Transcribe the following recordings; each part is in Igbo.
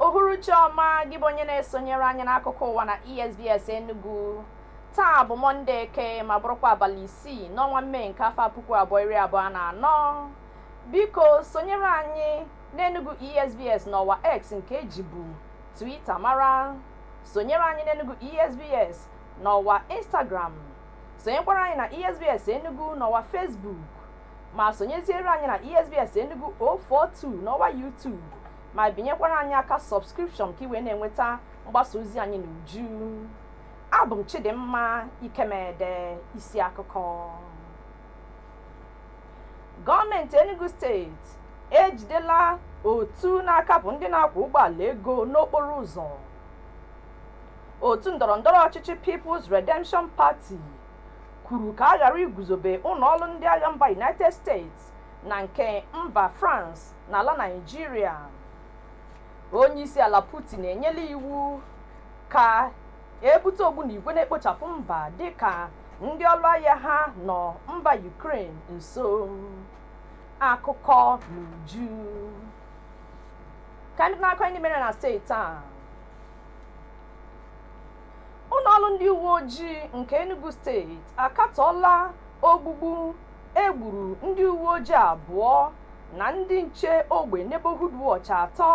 uhuruchi ọma gị bụ onye na-esonyere anyị n'akụkọ ụwa na esbs enugu taa bụ mọnde eke ma bụrụkwa abalị isii n'ọnwa mee nke afọ puku abụọ iri abụọ na anọ biko sonyere anyị n'enugu esbs n'ọwa x nke ejibu twitter mara sonyere anyị n'enugu esbs n'ọwa instagram sonyekwara anyị na esbs enugu n'ọwa facebook ma sonyeziere anyị na esbs enugu 042 n'ọwa youtube ma binyekwara anyị aka subscription ka i wee na-enweta mgbasa ozi anyị n'uju abụ m chidimma ikemede isi akụkọ gọọmenti enugu steeti ejidela otu na-akapụ ndị na-akwọ ụgbọala ego n'okporo ụzọ otu ndọrọndọrọ ọchịchị peoples redemption party kwuru ka a ghara iguzobe ụlọ ọrụ ndị agha mba United States na nke mba France n'ala Naịjirịa onyeisiala Putin enyela iwu ka ebute ogbunigwe na-ekpochapụ mba dịka ndị ọrụ agha ha nọ mba Ukraine nso akụkọ n'uju ka ndị na-akọ ndị mere na steeti a ụlọọrụ ndị uwe ojii nke Enugu steeti akatọọla ogbugbu egburu ndị uwe ojii abụọ na ndị nche ogbe neighborhood watch atọ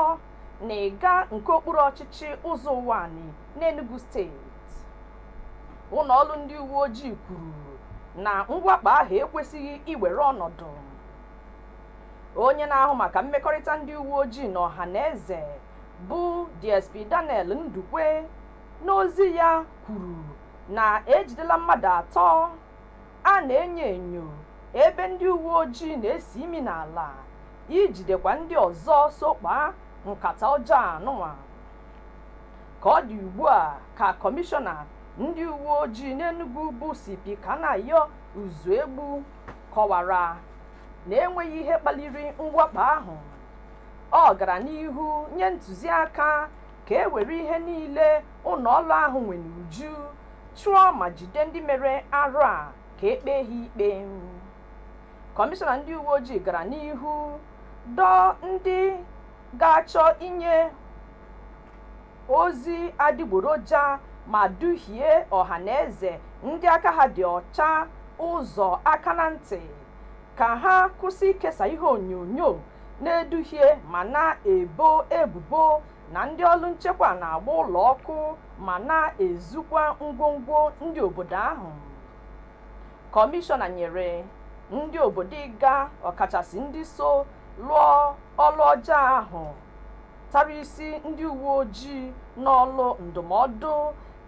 na Igga nke okpuru ọchịchị Ụzọ Ụwanị n'Enugu steeti ụlọọrụ ndị uwe ojii kwuru na mwakpo ahụ ekwesịghị iwere ọnọdụ onye na-ahụ maka mmekọrịta ndị uwe ojii na ọha na eze bụ DSP Daniel Ndukwe N'ozi ya kwuru na ejidela mmadụ atọ a na-enyo enyo ebe ndị uweojii na-esi imi n'ala ijidekwa ndị ọzọ so kpaa nkata ọjọọ a nụnwa. Ka ọ dị ugbua ka Kọmishọna ndị uweojii n'Enugu bụ CP Kanayo Uzuegbu kọwara na enweghị ihe kpaliri mwakpo ahụ. Ọ gara n'ihu nye ntụziaka ka e were ihe niile ụlọ ọrụ ahụ nwere n'uju chụọ ma jide ndị mere arụ a ka e kpee ha ikpe kọmishọna ndị uwe ojii gara n'ihu dọọ ndị ga-achọ inye ozi adigboroja ma duhie ọha na eze ndị aka ha dị ọcha ụzọ aka na ntị ka ha kwụsị ikesa ihe onyonyo na-eduhie ma na-ebo ebubo na ndị ọlụ nchekwa na-agba ụlọ ọkụ ma na-ezukwa ngwongwo ndị obodo ahụ kọmishọna nyere ndị obodo Igga ọkachasị ndị so lụọ ọlụ ọjọọ ahụ tara isi ndị uwe ojii n'ọlụ ndụmọdụ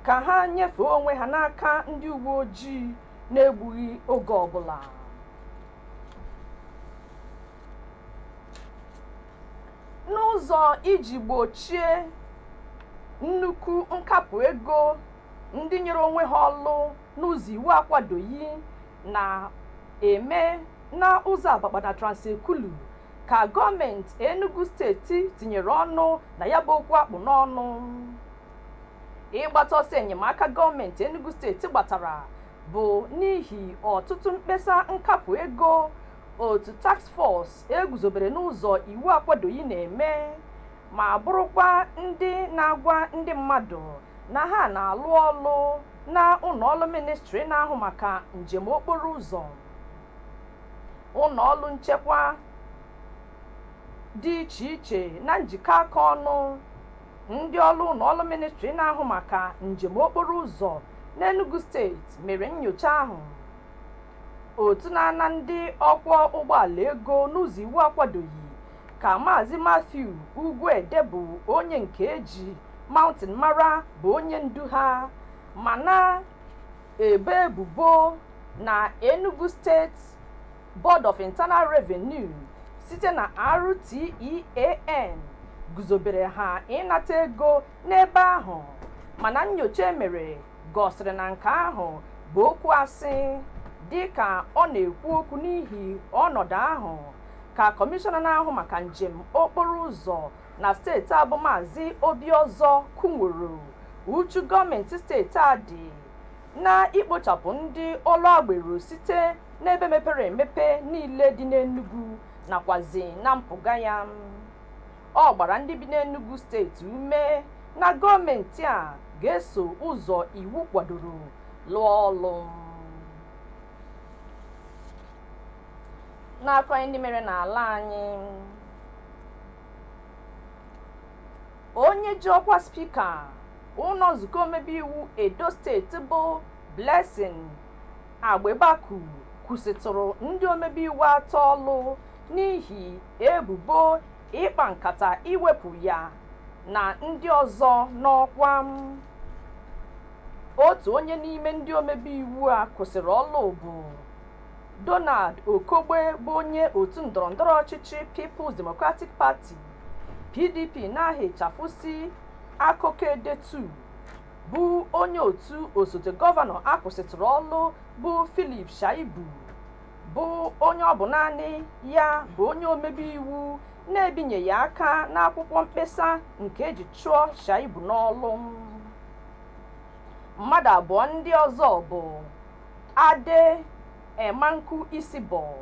ka ha nyefee onwe ha n'aka ndị uwe ojii n'egbughị oge ọbụla n'ụzọ iji gbochie nnukwu nkapụ ego ndị nyere onwe ha ọlụ n'ụzọ iwu akwadoghị na-eme n'ụzọ Abakpa na Trans-Ekulu ka gọọmenti enugu steeti tinyere ọnụ na ya bụ okwu a kpụ n'ọnụ ịgbata ọsọ enyemaka gọọmenti Enugu steeti gbatara bụ n'ihi ọtụtụ mkpesa nkapụ ego otu task force e guzobere n'ụzọ iwu akwadoghị na-eme ma bụrụkwa ndị na-agwa ndị mmadụ na ha na-alụ ọlụ na ụlọọlụ ministri na-ahụ maka njem okporo ụzọ ụlọọlụ nchekwa dị iche iche na njikọ aka ọnụ Ndị ọlụ ụlọọlụ ministri na-ahụ maka njem okporo ụzọ n'Enugu steeti mere nnyocha ahụ. Otu na-ana ndị ọkwọ ụgbọala ego n'ụzọ iwu akwadoghị ka Maazị Matthew Ugwuede bụ onye nke e ji Mountain mara bụ onye ndu ha ma na-ebo ebubo na Enugu steeti Board of Internal Revenue site na RTEAN guzobere ha ịnata ego n'ebe ahụ mana nnyocha e mere gosiri na nke ahụ bụ okwu asị dịka ọ na-ekwu okwu n'ihi ọnọdụ ahụ ka kọmishọna na-ahụ maka njem okporo ụzọ na steeti a bụ maazị Obi Ozor kwunworo uchu gọọmenti steeti a dị na ikpochapụ ndị ọlụ agbero site n'ebe mepere emepe niile dị n'Enugu nakwazị na mpụga ya ọ gbara ndị bi n'Enugu steeti ume na gọọmenti a ga-eso ụzọ iwu kwadoro lụọ ọlụ n'akụkọ ndị mere n'ala anyị onye ji ọkwa spika ụlọ nzukọ omebe iwu edo steeti bụ blessing agbebaku kwụsịtụrụ ndị omebe iwu atọ ọlụ n'ihi ebubo ịkpa nkata iwepụ ya na ndị ọzọ n'ọkwa otu onye n'ime ndị omebe iwu a kwụsịrị ọlụ bụ donald okogbe bụ onye otu ndọrọndọrọ ọchịchị peoples democratic party pdp n'aha ịchafụ si Akoko Edo 2 bụ onye otu osote gọvanọ a kwụsịtụrụ ọlụ bụ Philip Shaibu bụ onye ọ bụ naanị ya bụ onye omebe iwu na-ebinyeghị aka n'akwụkwọ mkpesa nke e ji chụọ Shaibu n'ọlụ. Mmadụ abụọ ndị ọzọ bụ Addeh Emankhu Isibor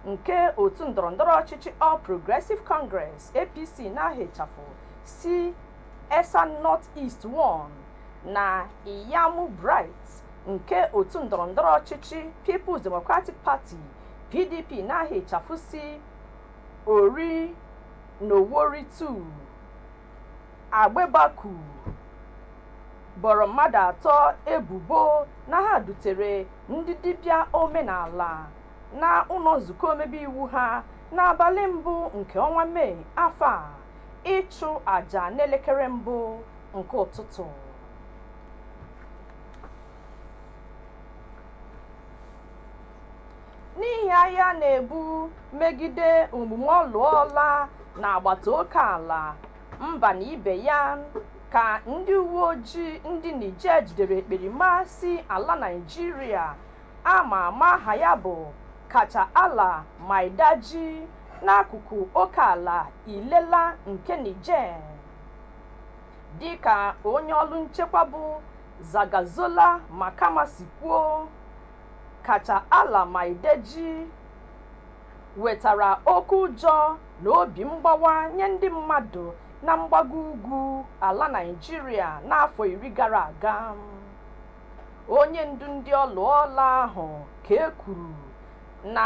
nke otu ndọrọndọrọ ọchịchị All Progressive Congress, APC, n'aha ịchafụ si Esan North East 1 na Iyamu Bright nke otu ndọrọndọrọ ọchịchị Peoples Democratic Party, PDP, n'aha ịchafụ si Orhionmwon 2. Agbebaku boro mmadụ atọ ebubo na ha dutere ndị dibịa omenala na ụlọ nzukọ omebe iwu ha n'abalị mbụ nke ọnwa Mee afọ a. ịchụ àjà n'elekere mbụ nke ụtụtụ n'ihi agha a na-ebu megide omume ọlụọla na agbata oke ala mba na ibe ya ka ndị uwe ojii ndị niger jidere ekperima si ala naịjirịa a ma ama aha ya bụ kachalla maidaji n'akụkụ oke ala Illela nke Niger dịka onye ọrụ nchekwa bụ Zagazola Makama si kwuo Kachalla Maidaji wetara oke ụjọ na obi mgbawa nye ndị mmadụ na mgbago ugwu ala Naịjirịa n'afọ iri gara aga onye ndu ndị ọlụọla ahụ ka e kwuru na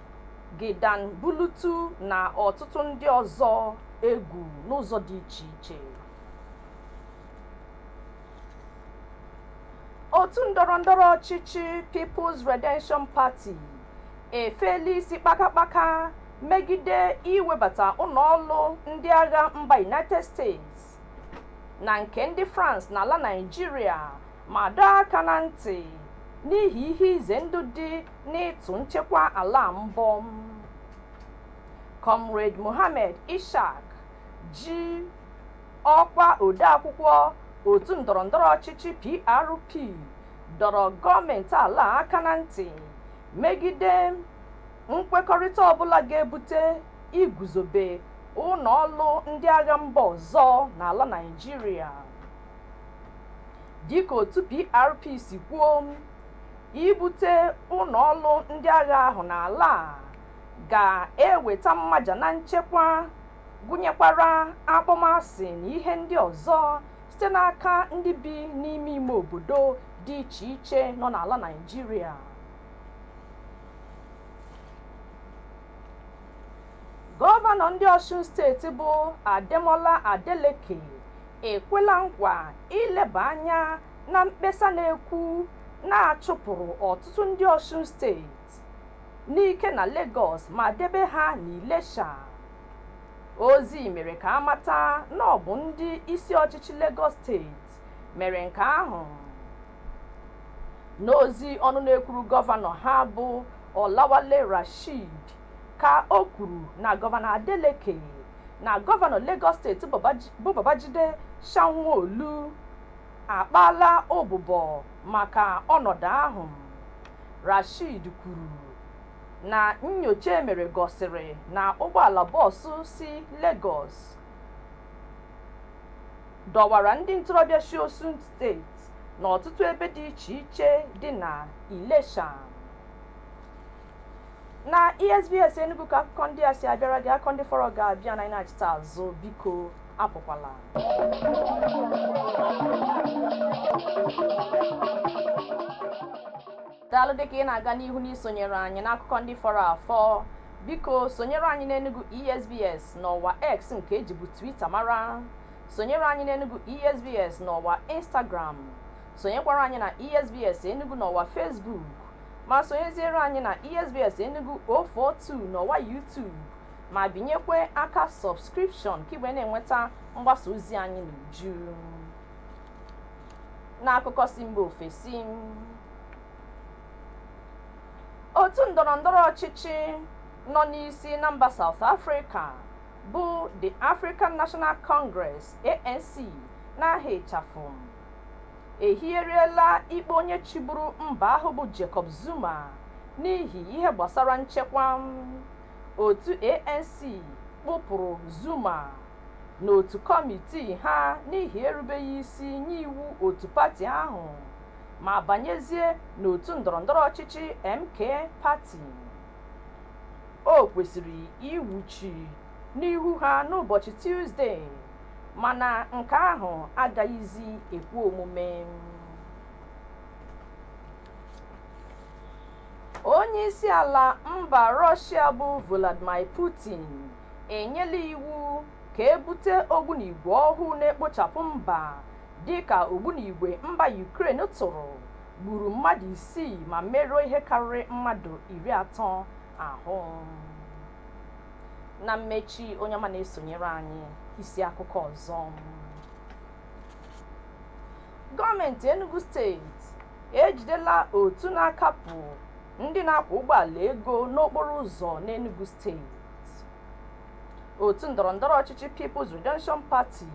Gidan Bulutu na ọtụtụ ndị ọzọ egwu n'ụzọ dị iche iche. Otu ndọrọndọrọ ọchịchị People's Redemption Party efeela isi kpakakpaka megide iwebata ụlọọrụ ndị agha mba United States na nke ndị France n'ala Naịjirịa ma dọọ aka na ntị n'ihi ihe ize ndụ dị n'ịtụ nchekwa ala mbọ Comrade Mohammed Ishaq ji ọkwa odeakwụkwọ otu ndọrọndọrọ ọchịchị PRP dọrọ gọọmenti ala a aka na ntị megide nkwekọrịta ọbụla ga-ebute iguzobe ụlọ ọrụ ndị agha mba ọzọ n'ala Naịjirịa dịka otu PRP si kwuo ibute ụlọ ọrụ ndị agha ahụ n'ala a ga-eweta mmaja na nchekwa gụnyekwara akpọmasị na ihe ndị ọzọ site n'aka ndị bi n'ime ime obodo dị iche iche nọ n'ala Naịjirịa gọvanọ ndị Ọsun steeti bụ Ademola Adeleke ekwela nkwa ileba anya na mkpesa na-ekwu na achụpụrụ ọtụtụ ndị Ọsun steeti n'ike na Lagos ma debe ha n'Ilesha. Ozi mere ka amata na ọ bụ ndị isi ọchịchị Lagos steeti mere nke ahụ. N'ozi ọnụ na-ekwuru gọvanọ ha bụ Olawale Rasheed ka o kwuru na gọvanọ Adeleke na gọvanọ Lagos steeti bụ Babajide Sanwo-Olu akpaala ụbụbọ maka ọnọdụ ahụ. Rasheed kwuru na nnyocha emere gosiri na ụgbọala bọọsụ si Lagos dọwara ndị ntorobịa si Osun steeti n'ọtụtụ ebe dị iche iche dị na Ilesha. na esbs enugu ka akụkọ ndị a si abịara gị akụkọ ndị fọrọ ga-abịa na anyị nachita azụ biko apụkwala daalụ dịka ị na-aga n'ihu n'isonyere anyị n'akụkọ ndị fọrọ afọ biko sonyere anyị n'enugu esbs n'ọwa x nke ejibu twitter mara sonyere anyị n'enugu esbs n'ọwa instagram sonyekwara anyị na esbs enugu n'ọwa facebook ma sonyeziere anyị na esbs enugu 042 n'ọwa youtube ma binyekwe aka subscription ka i wee na-enweta mgbasa ozi anyị n'uju n'akụkọ si mba ofesi otu ndọrọndọrọ ọchịchị nọ n'isi na mba South Africa bụ the African National Congress ANC n'aha ịchafụ ehigheriela ikpe onye chịburu mba ahụ bụ Jacob Zuma n'ihi ihe gbasara nchekwa otu ANC kpụpụrụ Zuma n'otu kọmitii ha n'ihi erubeghị isi nye iwu otu pati ahụ ma banyezie n'otu ndọrọndọrọ ọchịchị MK Party o kwesịrị iwuchi n'ihu ha n'ụbọchị Tuzde mana nke ahụ agaghịzi ekwe omume onye isi ala mba Russia bụ Vladimir Putin enyela iwu ka e bute ogbunigwe ọhụụ na-ekpochapụ mba dịka ogbunigwe mba Ukraine tụrụ gburu mmadụ isii ma merụọ ihe karịrị mmadụ iri atọ ahụ na mmechi onye ọma na-esonyere anyị isi akụkọ ọzọ gọọmenti enugu steeti ejidela otu na-akapụ ndị na-akwọ ụgbọala ego n'okporo ụzọ n'enugu steeti otu ndọrọndọrọ ọchịchị peoples redemption party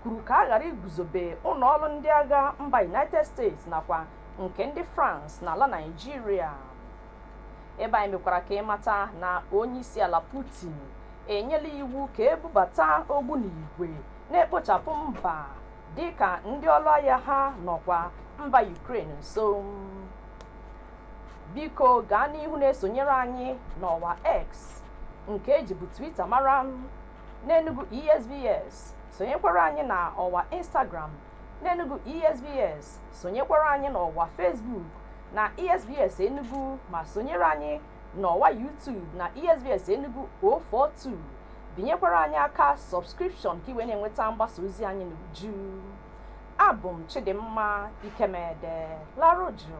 kwuru ka a ghara iguzobe ụlọ ọrụ ndị agha mba united states nakwa nke ndị france n'ala naijiria ebe anyị mekwara ka ị mata na onyeisiala Putin enyela iwu ka e bubata ogbunigwe na-ekpochapụ mba dịka ndị ọrụ agha ha nọkwa mba Ukraine nso biko gaa n'ihu na-esonyere anyị n'ọwa X nke e jibu Twitter mara n'Enugu ESBS sonyekwara anyị na ọwa Instagram n'Enugu ESBS sonyekwara anyị n'ọwa Facebook na ESBS Enugu ma sonyere anyị n'ọwa YouTube na ESBS Enugu 042 binyekwara anyị aka sọbskripshọn ka i wee na-enweta mgbasa ozi anyị n'uju abụ m Chidimma Ikemede larụ jụụ